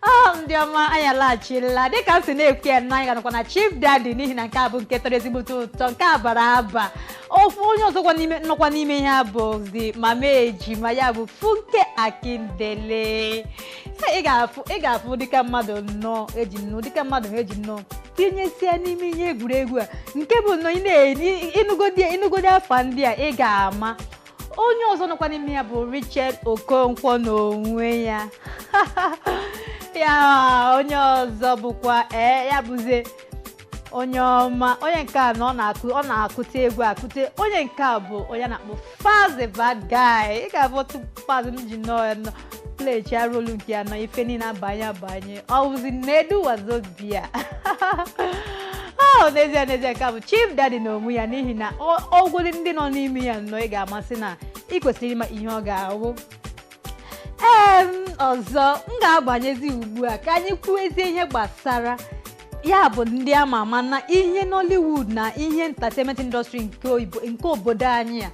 ọ ndị ọma anyị alaghachila dịka m si na-ekwu ya na anyị ga-anọkwa na chief daddy n'ihi na nke a bụ nke tọrọ ezigbote ụtọ nke a bara aba ofu onye ọzọkwa n'ime nọkwa n'ime ihe a bụzi mama ejima ya bụ funke akindele Ha, ị ga-afụ ị ga-afụ ndị ka mmadụ nnọọ eji nnọọ ndị ka mmadụ ha eji nnọọ tinyesie n'ime ihe egwuregwu a nke bụ nnọọ ị na-eri ịnụgodi ịnụgodi afa ndị a ị ga-ama onye ọzọ nọkwa n'ime ya bụ Richard Okonkwo n'onwe ya ya onye ọzọ bụkwa ee ya bụzie onye ọma onye nke a na ọ na-akụ ọ na-akụte egwu akụte onye nke a bụ onye a na-akpọ Falz the Bad Guy ị ga-afụ otu Falz m ji nnọọ ya nọ plechaa rolu nke ya nnọọ ife niile abanye abanye ọ bụzi nedu wazobia n'ezie n'ezie nke a bụ chief daddy na onwe ya n'ihi na ọ- ọgwụdị ndị nọ n'ime ya nnọọ ị ga-ama sị na ị kwesịrị ịma ihe ọ ga-awụ ee ọzọ m ga-agbanyezi ugbu a ka anyị kwuezie ihe gbasara ya bụ ndị a ma ama na ihe Nollywood na ihe entertainment industry nke oyibo nke obodo anyị a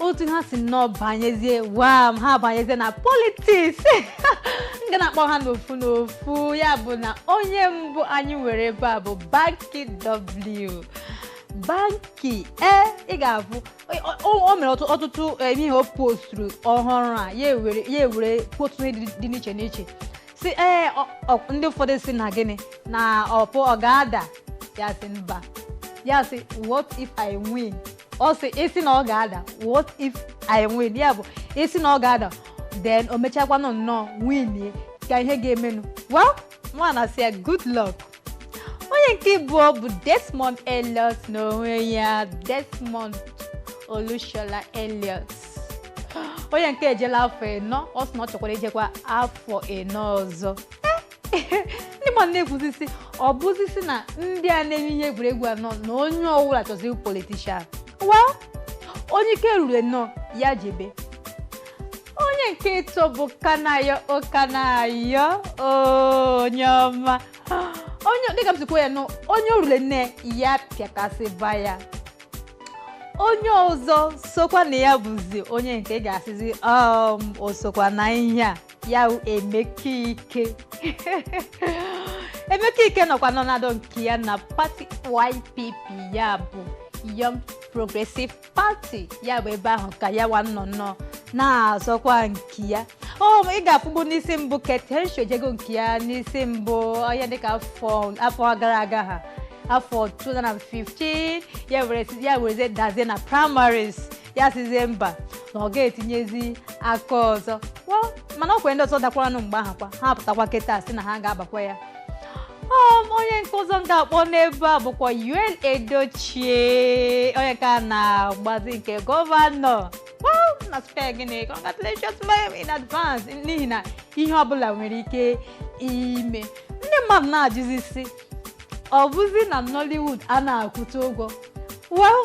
otu ha si nnọọ banyezie wam ha banyezie na politiks m ga na-akpọ ha n'ofu n'ofu ya bụ na onye mbụ anyị nwere ebe a bụ Banky W Banky ee ị ga-afụ o o- o mere ọtụ- ọtụtụ eh, ihe o posturu ọhụrụ a ya ewere ya ewere kwuo ọtụtụ ihe dị dị n'iche n'iche si ee ọ- ọ- ndị ụfọdụ sị na gịnị na ọpụ ọ ga-ada ya sị mba ya sị what if i win ọ sị ị sị na ọ ga-ada what if i win ya bụ ị sị na ọ ga-ada then o mechakwanụ nnọọ win kee ihe ga-emenụ well mụwa na-asị ya good luck onye nke ịbụọ bụ desmond elliot n'onwe ya desmond olushola elliot onye nke ejela afọ ịnọ ọ sị na ọ chọkwara ijekwa afọ ịnọ ọzọ ndị mmadụ na-ekwuzi sị ọ bụzi sị na ndị a na-eme ihe egwuregwu a nnọọ na onye ọbụla chọzi ịwụ politician well onye ike ruru nnọọ ya jebe onye nke ịtọ bụ kanayo o kanayo onye ọma onye dịka m sikwa ya nụ onye o rule nne ya pịakasịba ya onye ọzọ sokwa na ya bụzi onye nke ị ga-asịzi um o sokwa na ihe a ya wụ emeka ike emeka ike nọkwa nnọọ na-adọ nke ya na pati ypp ya bụ young progressive pati ya bụ ebe ahụ ka ya wa nọ nnọọ na-azọkwa nke ya o ị ga-afụgbu n'isi mbụ Kate Henshaw ejego nke ya n'isi mbụ onye dịka afọ afọ gara aga ha afọ 2015 ya were si- ya werezie dazie na primaries ya sizie mba na ọ ga-etinyezi aka ọzọ Well, mana o nwekwere ndị ọzọ dakwaranụ mgbe ahụ kwa ha pụtakwa kịta si na ha ga-agbakwa ya Um, onye nke ọzọ m ga-akpọ n'ebe a bụkwa Yul Edochie onye nke a na-agbazi nke gọvanọ Wow, na spee gịnị congratulations ma'am in advance n'ihi na ihe ọbụla nwere ike ime ndị mmadụ na-ajụzi si ọ bụzi na Nollywood a na-akwụta ụgwọ well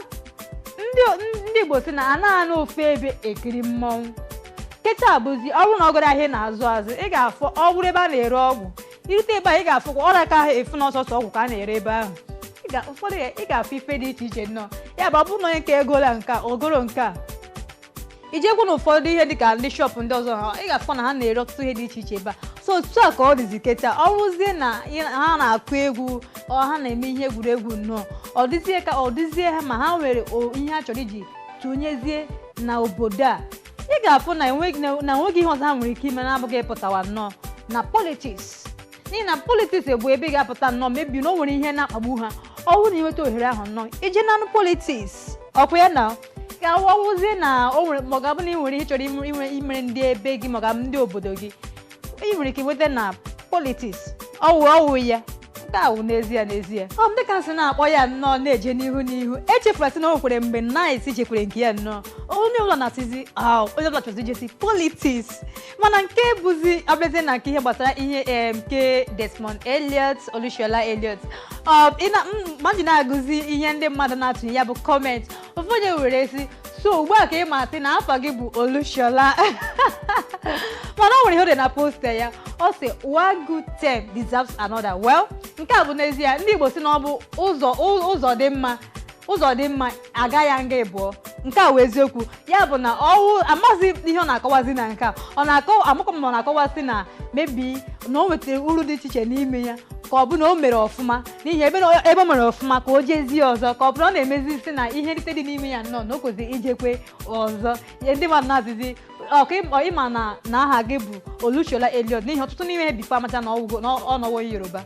ndị ndị igbo si na anaghị anọ ofu ebe ekiri mmọnwụ kịta bụzi ọ bụrụ na ọ gara ahịa ị na-azụ azụ ị ga-afụ ọ bụrụ ebe a na-ere ọgwụ i rute ebe a ị ga-afụkwa ọ raka ahụ ịfụ na ọ sọsọ ọgwụ ka a na-ere ebe ahụ Ị ga- ụfọdụ ya- ị ga-afụ ife dị iche iche nnọọ ya bụ ọ bụrụ na onye nke egola nke a, o goro nke a i jekwu na ụfọdụ ihe dịka ndị shọpụ ndị ọzọ ha ị ga-afụkwa na ha na-ere ọtụtụ ihe dị iche iche ebe a so otu a ka ọ dịzi kịta ọ bụrụzie na ị- ha na-akụ egwu ọ ha na-eme ihe egwuregwu nnọọ ọ dịzie ka ọ dịzie ha ma ha nwere o- ihe ha chọrọ iji tụnyezie na obodo a ị ga-afụ na enweghị na na enweghị ihe ọzọ ha nwere ike ime na-abụghị ịpụtawa nnọọ na politiks n'ihi na politiks bụ ebe ị ga-apụta nnọọ maybe na o nwere ihe na-akpagbu ha ọwụ na ị nweta ohere ahụ nnọọ ije nanụ politiks ọkwa ya na ka ọwụzie na o nwere ma ọ ga-abụ na ị nwere ihe ị chọrọ ime- ime- imere ndị ebe gị ma ọ ga-abụ ndị obodo gị ị nwere ike nweta na politiks ọwụ ọwụ ya nke a wụ n'ezie n'ezie ọ m dịka nsị na-akpọ ya nnọọ na-eje n'ihu n'ihu echefula sị na o nwekwere mgbe 9ice jekwere nke ya nnọọ onye ụlọ na-asịzi "Ah, onye ọbụla chọzi ijezi politiks mana nke bụzi a bịazie na nke ihe gbasara ihe em, nke Desmond Elliot Olushola Elliot Ọ, ị na- m- mmadụ na-agụzi ihe ndị mmadụ na-atụnye ya bụ kọment ụfọdụ were si so ugbu a ka ị ma sị na afa gị bụ Olushola mana o nwere ihe o dere na posta ya ọ sị one good term deserves another well nke a bụ n'ezie ndị Igbo si na ọ bụ ụzọ ụzọ dị mma ụzọ dị mma a gaa ya nga ịbụọ nke a wụ eziokwu ya bụ na ọwụ amaghịzi ihe ọ na-akọwazi na nke a ọ na-akọwa amakwa m ma ọ na-akọwazi na maybe na o nwetara uru dị iche iche n'ime ya ka ọ bụ na o mere ọfụma n'ihi ebe na- ebe o mere ọfụma ka o jezie ọzọ ka ọ bụrụ na ọ na-emezi isi na ihe nrite dị n'ime ya nnọọ na o kwesịrị ijekwe ọzọ Ihe ndị mmadụ na-asịzi ọ ka ị ma- ị ma na na aha gị bụ Olushola Elliot n'ihi ọtụtụ n'ime ha bikwa amacha na ọwụgo na ọ nọwo Yoruba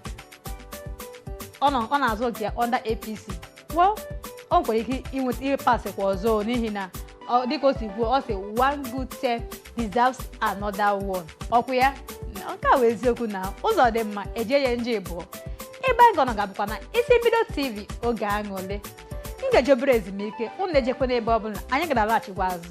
ọ nọ- ọ na-azọ nke ya under APC well o nwere ike inweta ihe pasịkwa ọzọ n'ihi na ọ- dịka o si kwuo ọ sị one good term deserves another one ọkwa ya nke a wụ eziokwu na ụzọ dị mma e jee ya nje ịbụọ ebe anyị ga-anọ ga-abụkwa na isi mbido tv oge akụọle m ga-eje obere ezumike unu ejekwana ebe ọbụla anyị ga-alaghachikwa azụ